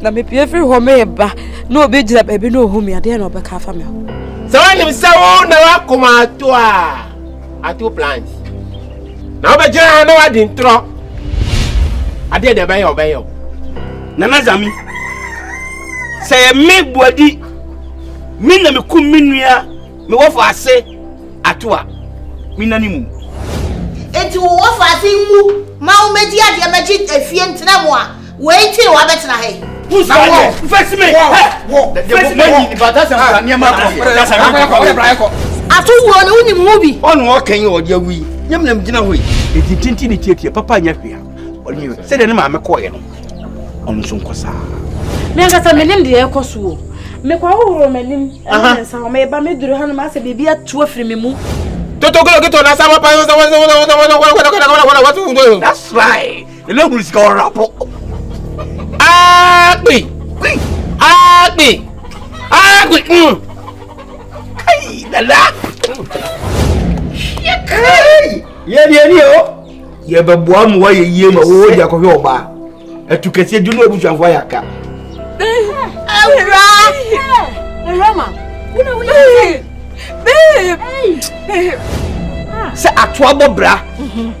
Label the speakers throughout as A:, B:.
A: na mepie firi hɔ mereba na obi gyina baabi na ɔhu me adeɛ na ɔbɛka afa me ho sɛ wonim sɛ
B: wo na woakoma ato a ato plant na wobɛgyina ha na woadi ntorɔ adeɛ deɛ ɛbɛyɛ ɔbɛyɛ o nana
C: zame sɛ yɛ me boadi me na mekum me nua mewɔfo ase ato a mena ne mu enti
D: wowɔfo ase mu ma womɛdi adeɛ mɛgye afie ntena mu a Wei nti na
C: wabɛtena ha yi. Who's that here?
D: Face me! Face me! Ato wuo no wonim ho bi. Ɔne ɔka yi ɔde awu
C: yi. Nyam nam gyina hɔ yi. Ɛti tinti ne tiatia papa nyɛ hwea. Ɔne sɛdeɛ ne maame kɔɔyɛ no. Ɔno nso nkɔ saa. Me ankasa
E: menim deɛ ɛkɔ so o. Mekɔhohoro m'anim ɛne me nsa hɔ. Meba meduru ha no masɛ biribi atu afiri me mu. Toto kilo kito
B: na sama pa. That's right.
C: Ele hunu sika ɔra po. Akpi!
B: Kpi! Akpi! Akpi! Mm.
C: Kai, dada! Kai! Yɛ deɛ ni o. Yɛ bɛ bua mu wa yɛ yie ma wo di akɔhwɛ ɔbaa. Ɛtu kɛseɛ dunu abusuafo ayɛ aka. Awura!
E: Awura ma! Wuna wo yɛ. Babe!
C: Sɛ atoa bɔ bra.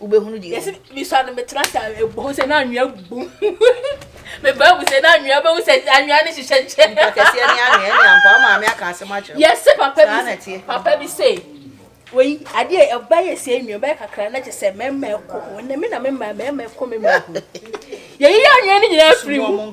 D: wobɛhunu deɛ yɛsi misua no metena
E: sa ɛbɔhu sɛ na anwea gu mebaa mu sɛ na anwea bɛhu sɛ anwea no hyehyɛ nkyɛ mpakɛseɛ ne anwea
D: ne ampa wo maame aka asɛm akyerɛ yɛse papa bi
E: papa bi se wei adeɛ ɛbɛyɛ sɛ anwea bɛyɛ kakra na kyɛ sɛ mɛma ɛkɔ ho ɛnɛ me na mema mɛma ɛkɔ me mɛhu yɛyi anwea no nyinaa firi mu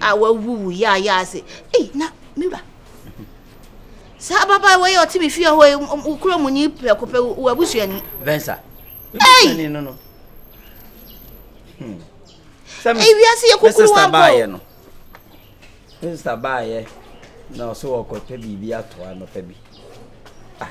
D: a wawuwu yaayaa se ei na me wura saa ababaawa yi a ɔte me fie hɔ yi wo kura mu ni prɛko pɛ wɔ abusuani vensa
C: ei
D: no no hmm. ei wiase yɛ kukuru wa bɔ no
C: ne sista baayɛ na ɔsɛ wɔkɔpɛ biribi atoa nɔpɛ bi ah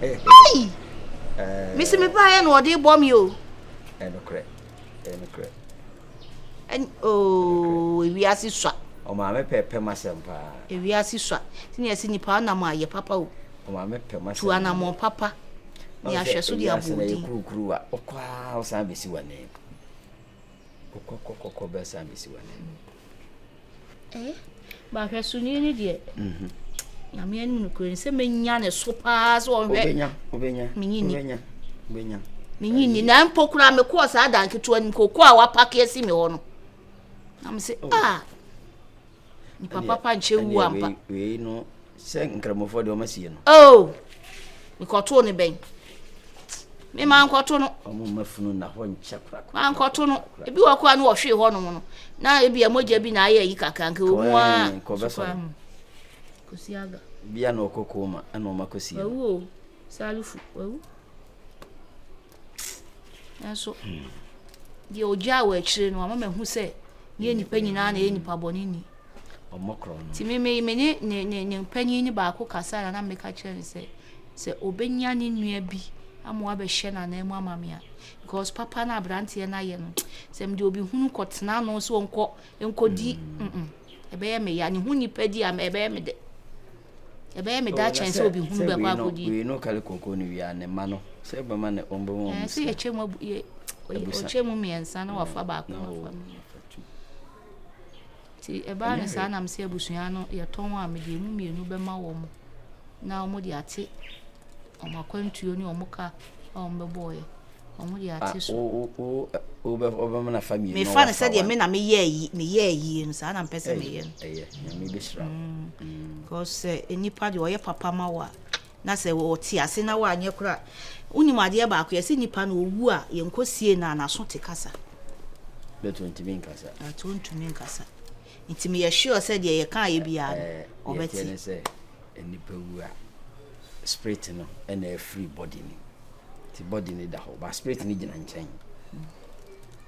D: Hey! Mesi me baeɛ na ɔde bɔ me o. Ɛnokorɛ.
C: Ɛnokorɛ.
D: Ɛn ooo ewiase sua. Ɔmaame pɛ pɛ
C: masɛm paa. Ewiase sua.
D: Ti na ɛsi nipa anam a yɛ papa o. Ɔmaame pɛ masɛm.
C: Tu anamɔ papa.
D: Ni ahwɛ so de abɔ odin. Ewiase na yɛ kurukuru wa. Ɔkɔ a
C: ɔsan besi wɔ ne. Kɔkɔkɔkɔkɔ bɛsa bɛsi w'anim. Eh,
D: bahwɛ so nie ne deɛ. Mhm. Nyame anim no kura ni sɛ menya ne so paa sɛ ɔhwɛ. Obenya, obenya. Menyi ni.
C: Obenya, obenya.
D: Menyi ni na mpo kura me kɔɔ saa dan ketewa nim koko a wapake asi me hɔ no. Na me se oh. ah. Nipa papa nkyɛ wu ampa. Ɛnna wei wei no
C: sɛ nkramofoɔ deɛ wɔn asie no. Oo oh!
D: nkɔtoo ne bɛn me maa nkɔto no. wɔn mma funu na hɔ
C: nkyɛ korakora. maa nkɔto no
D: ebi wɔ kora no wɔhwee hɔ nom no na ebi ɛmogya bi na ayɛ yi kakra nka wɔn mu a sukura mu kosiaga. bia na ɔkɔ kɔn
C: mu ɛna wɔn akɔsie no.
D: Salifu wawu. Nanso, deɛ ɔgyaa wɔ akyire no, ama mahu sɛ ne nnipa nyinaa na ɛyɛ nnipa bɔne ni. Nti
C: me me me ne ne
D: ne ne mpanyin ne baako kasa na na meka kyerɛ no sɛ sɛ obenya ne nua bi ama wabɛhyɛ n'anan mu ama me a because papa na aberanteɛ no ayɛ no sɛ mede obi hunu kɔtena no sɛ ɔnkɔ nkɔdi mm ɛbɛyɛ me ya ne ho nipa di a ɛbɛyɛ me dɛ. ɛbɛyɛ me da kyɛn sɛ obi hunu bɛkɔ akɔdi wei no kale koko no
C: wia ne ma no sɛ bɛma ne ɔmbɛ mu ɔmu sɛ yɛkyɛ
D: mu ɔkyɛ mu mmiɛnsa na wafa baako na wafa mmienu nti ɛbaa no saa nam sɛ abusua no yɛtɔn a mede mu mmienu bɛma wɔn na wɔn de ate wɔn akwantuo ne wɔn ka a wɔbɛbɔɔeɛ. Wɔn de ate so.
C: wobɛma nafa mmienu mefa no sɛdeɛ me na
D: meyɛɛ yie no saa na mpɛ sɛ meyɛ no mm.
C: because
D: sɛ eh, nnipa deɛ ɔyɛ papa ma wo a na sɛ ɔte ase na woanyɛ kora wonim adeɛ baako yɛsɛ nnipa no ɔwu a yɛnkɔsie no a naso te kasa bɛtɔ
C: ntumi nkasa ɛtɔ ntumi nkasa
D: Nti meyɛ sure sɛ deɛ yɛkaeɛ biara no, wɔbɛte. Deɛ ɛteɛ
C: ne sɛ, nipa wu a, spirit no na ɛfiri body no mu. Nti body no da hɔ, but spirit no gyina nkyɛn.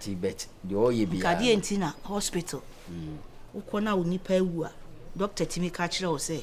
C: Nti but deɛ ɔreyɛ biara no. Nkadeɛ nti na
D: hospital, wokɔ no a wo nipa awu a, doctor tumi ka kyerɛ wo sɛ,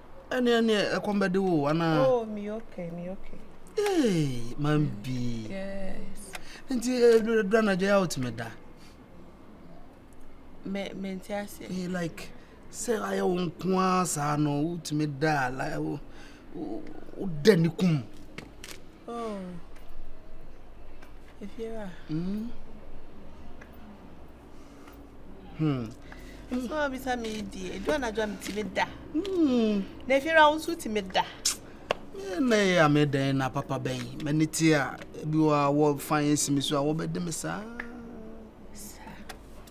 F: ɛne ɛne ɛkɔm bɛde wo anaa oh me okay me
G: okay ee man
F: bi
G: yes nti
F: ɛdura eh, na gya out me da
G: me me nti ase ee eh, like
F: sɛ ayɛ wo nko ara saa no wotumi da a like wo da ne kum
G: Oh, Efiera. Mm. Hmm. So I bisa me di. Edu anadwo me ti me da. Hmm. Na Efiera wo nso ti me da. Na
F: ya me dan na papa bɛn. Mani ti a bi wa wɔ fan yɛn si me so a wɔbɛde me saa.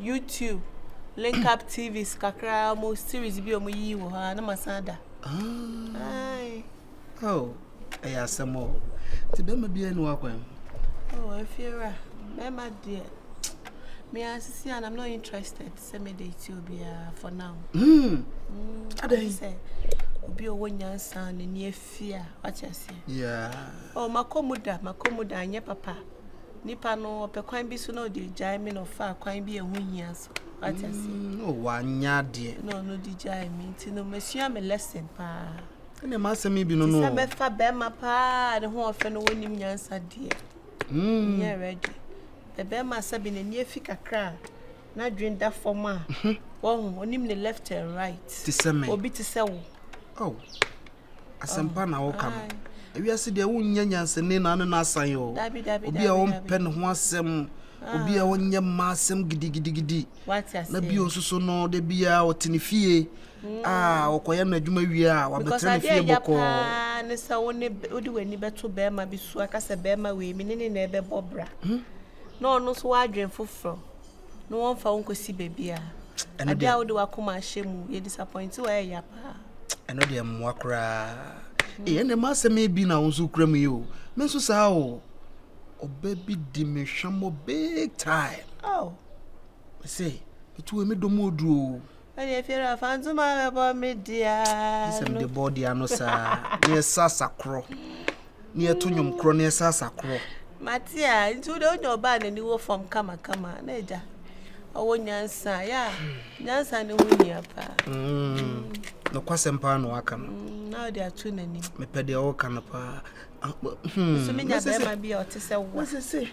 F: YouTube,
G: Link Up TVs kakra a wɔn series bi a wɔn yiyi wɔ hɔ a na ma san da. Ayi. Oh,
F: ɛyɛ asɛm o. Ti bɛma bi anu akwan. Oh, efiewura,
G: bɛma deɛ. Me asisi and I'm not interested. Sɛ me de ti obiara for now. Hmm.
F: Adɛn? Sɛ
G: obi ɔwɔ nyansa n'ani afia, wate aseɛ. Yeah. Oh,
F: makɔ mu
G: da, makɔ mu da, anyɛ papa. Nipa no ɔpɛ kwan bi so na ɔde gyae me na ɔfaa kwan bi a ɛho hia so wate ase mm, na wanyɛ adeɛ
F: na ɔno de gyae
G: me nti no masua me lesson paa ɛne masɛm
F: yi bi no no sɛ bɛfa bɛrima
G: paa ne ho ɔfɛ no wɔnim nyansa deɛ mm. nyɛ ready bɛbɛrima sɛ bi n'ani afi kakra a n'adwene da fam a mhm. wɔn onim ne left and right te sɛ me obi te
F: sɛ wo
G: oh
F: asɛmpa oh, na wɔka no ewiase deɛ wonnya nyansani na ne no asan o obi a wɔmpɛ ne ho asɛm ah. obi a wɔnyɛ mma asɛm gidigidigidi na bio
G: nso so no
F: da biara ɔte ne fie mm. a ah, ɔkɔyɛ no adwuma wie a wabɛtena ne fie bɔkɔɔ ne sɛ
G: wode w'ani bɛto bɛrima bi so aka sɛ bɛrima wei me ne ne na ɛbɛbɔ bra hmm? na ɔno nso w'adwen foforɔ na wɔmfa wo nkɔsi baabi a ade a wode w'akoma ahyɛ mu yɛ disappoint wɔ ɛyɛ ya paa ɛno deɛ mmoa
F: koraa hmm. ɛyɛ ne ma asɛm bi na wo nso kura mu yi o me nso saa o ɔbɛ bi di me hwɛ mɔ big time oh. sɛ ɛtu emi dɔm oduo Ɛdeɛ Fiero afa
G: ntoma bɛbɔ me dea no. Sɛ mede bɔ dea
F: no saa na yɛsa sakorɔ na yɛto nnwom korɔ na yɛsa sakorɔ. Mate a nti
G: wode wonya ɔbaa n'ani wɔ fam kamakama na agya ɔwɔ nyansa yɛ a nyansa ne ho hia paa. Mm, nokwasɛm paa na waka no. Mm, na ɔde ato n'anim. Mepɛ deɛ ɔka no paa. Ah, hmm, so menya bɛrima bi a ɔte sɛ wa.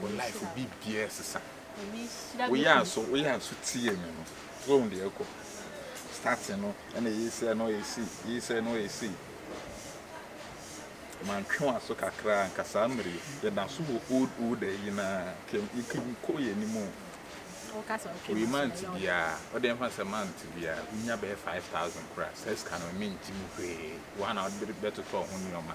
H: Wo life mu biribiara resesa. Woyɛ aso, woyɛ aso tie me no. So ohun deɛ ɛkɔ. Starting no, ɛna ɛyɛ sei, ɛna ɔyɛ sei, ɛyɛ sei, ɛna ɔyɛ sei. Mantwe wɔn aso kakra anka saa mmere yi. Yɛda so wɔ old old ayi no ara. Kem, kem kɔ yɛn anim o.
E: Wei mante biara.
H: Ɔde ɛmfa sɛ mante biara. Wonya bɛyɛ 5000 koraa. Saa sika no mentimi hwee. Wɔn a na wɔde bɛtotɔ ho nneɛma.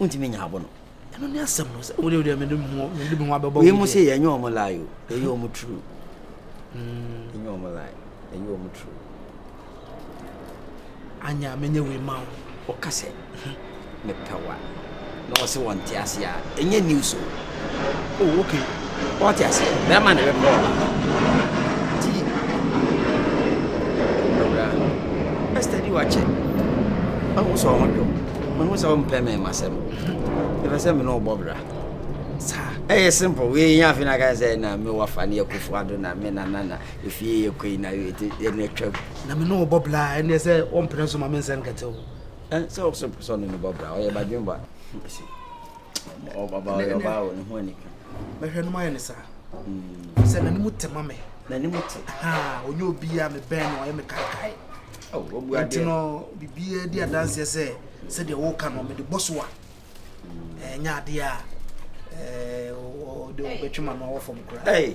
C: wontumi nya abo no. ɛno ne asɛm no
F: sɛ wode wode mede me ho abɛbɔ wei mu sɛ yɛnyɛ
C: ɔmo lie o ɛyɛ ɔmo true hmm. ɛnyɛ ɔmo lie ɛyɛ ɔmo true
F: anya menyɛ wei ma wo ɔka sɛ
C: mepɛ wa na
F: ɔse
C: wɔnte ase a ɛnyɛ news o Oh okay, wate ase. Bɛrima na ɛbɛpɛ ɔbaa. Nti Owura, bɛ study wo akyɛ. Mahu sɛ ɔho dwo. Mahu sɛ wompɛ me m'asɛm. Mepɛ sɛ me ne wo bɔ bra. Saa, ɛyɛ simple. Wei yɛ afei na ka sɛ na me wafa ne akufo ado na me na na na efie yɛ koi na yɛ te yɛ ne twam. Na me ne wo bɔ bra
F: ɛne sɛ wɔmpene so ma me nsɛn kɛtew. Ɛn sɛ wo so pɛ
C: sɛ ɔne ne bɔ bra ɔyɛ badwemba. mɛhwɛ no mayɛ ne
F: saa sɛ n'anim te ma me n'anim te
C: ɔnyɛ obiaa
F: mebɛn no ɔyɛ me kaakae
C: nti no biribiaa
F: di adanseɛ sɛ sɛdeɛ woka no mede bɔ so a ɛnyɛ adeɛ a ɔde ɔbɛtwe ma no awɔ fam koraa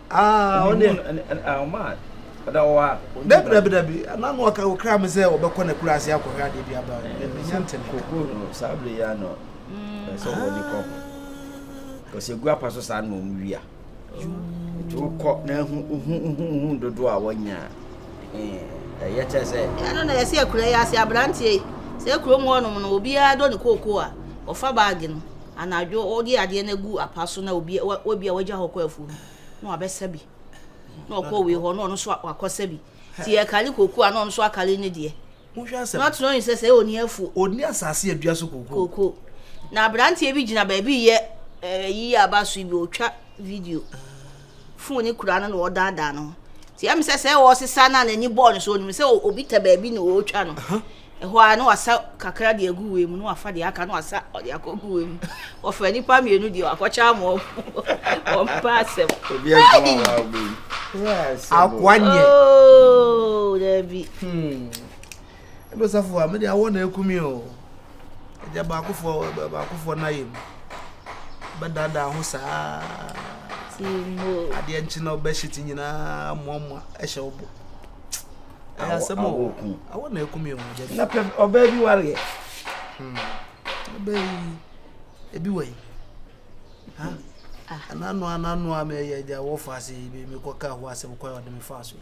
F: Ah, ɔne. Ɔma
C: ɔda wɔ a. Dabi dabi dabi,
F: na no ɔka okra me sɛ ɔbɛkɔ na kura ase akɔhwɛ adeɛ bi aba. Menya ntɛnɛ. Koko
C: no saa bere ya no. Ɛsɛ wɔ ni kɔ ho. Kɔsɛ gu apa so saa na wɔn wia. Nti wokɔ na ehu ehu ehu ehu dodo a wɔnya. Ɛyɛ kyɛ sɛ. Ɛno na yɛsi akura
G: yɛ ase abranteɛ yi. Sɛ kurom hɔ nom no obiara dɔ ne koko a ɔfa baagi no. anadwo ɔde adeɛ no agu apa so na obi obi a wagya hɔ kɔ afuo mu na wabɛsa bi na ɔkɔ wei hɔ na ɔno nso wakɔsa bi ti ɛkari koko a na ɔno nso akari ne deɛ na ɔtena
F: ɔyin sɛ sɛ ɔni
G: afuo ɔni asase adua
F: so koko koko
G: na aberanteɛ bi gyina baabi yɛ ɛyi eh, a aba so bi ɔtwa video. fon no kura no na ɔdaadaa no ho nti ɛm sɛ sɛ ɔresesa no a n'ani bɔɔ no so onim sɛ obi tɛ baabi na ɔretwa no ɛhɔ a na wasa kakra de agu wei mu na wafa deɛ aka na wasa ɔde akɔgu wei mu wɔfrɛ nipa mmienu deɛ wakɔkyɛ ama wɔn wɔn mpa asɛm
F: akoa nyɛ ooo
G: oh, daabi hmm.
F: Ɛna ɔsafo a mede awɔ na akum yi o. Agya baakofoɔ baakofoɔ no ayɛ mu. Bɛdaadaa ho saa.
G: Adeɛ nkye na
F: ɔbɛhyɛ ti nyinaa mmoammoa ɛhyɛ wo bo. Ɛyɛ asɛm o. Awɔ na akum yi o. Na pɛ ɔbaa
C: bi wareɛ. Hmm.
F: Ɔbaa yi ebi wɔ yi. Ah. Anano anano a mɛyɛ agya wɔfa ase mekɔka ho asɛm kwan ɔde me fa so yi.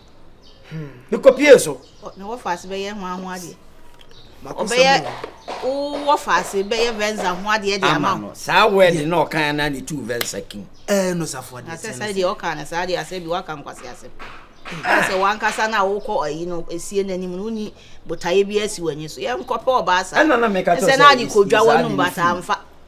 C: mekɔ pie so ne wɔfa ase bɛyɛ
G: ho aho adeɛ ɔbɛyɛ wɔfa ase bɛyɛ venza ho adeɛ de ama no saa wɛde na ɔkan
C: na ne tu venza kim ɛɛ no safo adeɛ
F: asɛ sɛ deɛ ɔkan no saa
G: deɛ asɛ bi waka nkwase asɛ sɛ wankasa no a wokɔ ayi no ɛsie no anim no woni botaeɛ bi asi w'ani so yɛnkɔpɛ ɔbaa saa ɛsɛ na ade
C: kɔdwa w'anum
G: bataa mfa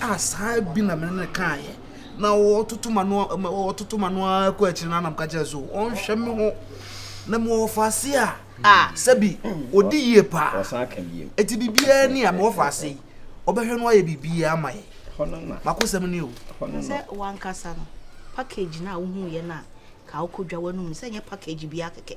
F: a saa bi na me ne no kaeɛ. Na ɔtoto m'ano ɔtoto m'ano ara kɔ akyiri no ara na meka kyerɛ so ɔnhwɛ me ho na mewɔ ɔfaase a a sɛbi ɔdi yie paa ɛti
C: biribiara ni a
F: mewɔ faase yi ɔbɛhwɛ no ayɛ biribiara ama yɛ makosɛm
C: ni o
F: sɛ wankasa
G: no package no a wohuuiɛ no a ka wokɔdwa w'anom sɛ nyɛ package biara kɛkɛ